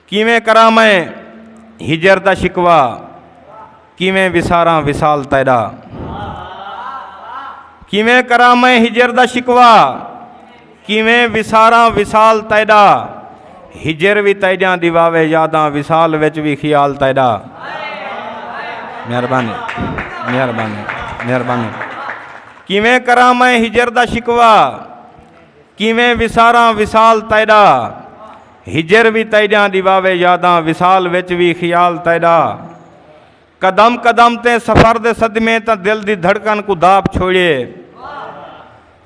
کیویں کراں میں ہجر دا شکوا کیویں وساراں وصال تیڈا کیویں کراں میں ہجر دا شکوا کیویں وساراں وصال تیڈا ہجر وی تیڈیاں دیواوے یاداں وصال وچ وی خیال تیڈا مہربانی مہربانی مہربانی کیویں کراں میں ہجر دا شکوا کیویں وساراں وصال تیڈا ہجر وی تیݙیاں ݙیواوے یاداں وصال وچ وی خیال تیݙا قدم قدم تے سفر دے صدمے تاں دل دی دھڑکن کوں داپ چھوڑیے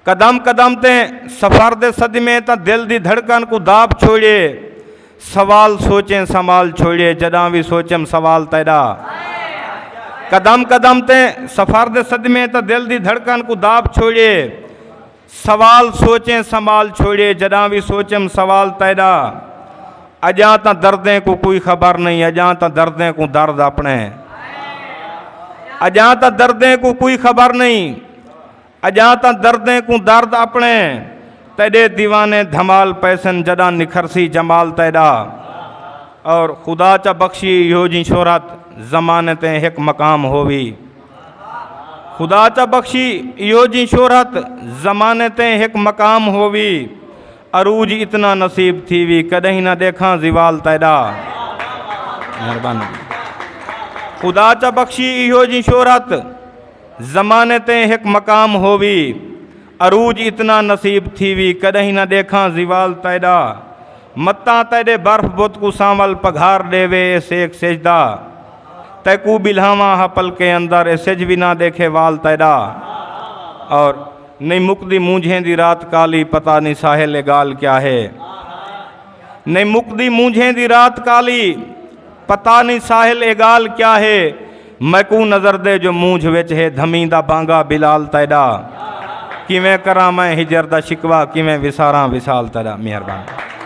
قدم قدم تے سفر دے صدمے تاں دل دی دھڑکن کوں داپ چھوڑیے سوال سوچیں سنبھال چھوڑیے جݙاں وی سوچم سوال تیݙا قدم قدم تے سفر دے صدمے تاں دل دی دھڑکن کوں داپ چھوڑیے سوال سوچیں سنبھال چھوڑیے جڈاں وی سوچم سوال تیڈا اجاں تاں دردیں کوں کوئی خبر نہیں اجاں تاں دردیں کوں درد اپنے اجاں تاں دردیں کوں کوئی خبر نہیں اجاں تاں دردیں کوں درد اپنے تیڈے دیوانے دھمال پیسن جڈاں نکھرسی جمال تیڈا اور خدا چا بخشی ہو جی شہرت زمانے تے ہک مقام ہووی خدا چا بخشی ایو جی شہرت زمانے تے ہک مقام ہووی عروج اتنا نصیب تھی وی کدیں نہ دیکھاں زوال تیڈا مہربانی خدا چا بخشی ایو جی شہرت زمانے تے ہک مقام ہووی عروج اتنا نصیب تھیوی کڈہیں نہ ڈیکھاں زوال تیڈا متاں تیڈے برف بت کوں سانول پگھار ڈیوے اے سیک سجدا تیکوں بلھاواں ہا پلکیں اندر اے سجھ وی نہ ڈیکھے وال تیڈا اور نہیں مکدی مونجھیں دی رات کالی پتہ نہیں ساحل اے گال کیا ہے نہیں مکدی مونجھیں دی رات کالی پتا نی ساحل اے گال کیا ہے میکوں نظر دے جو مونجھ وچ ہے دھمیں دا بانگا بلال تیڈا کیویں کراں میں ہجر دا شکوا کیویں وساراں وصال تیڈا مہربان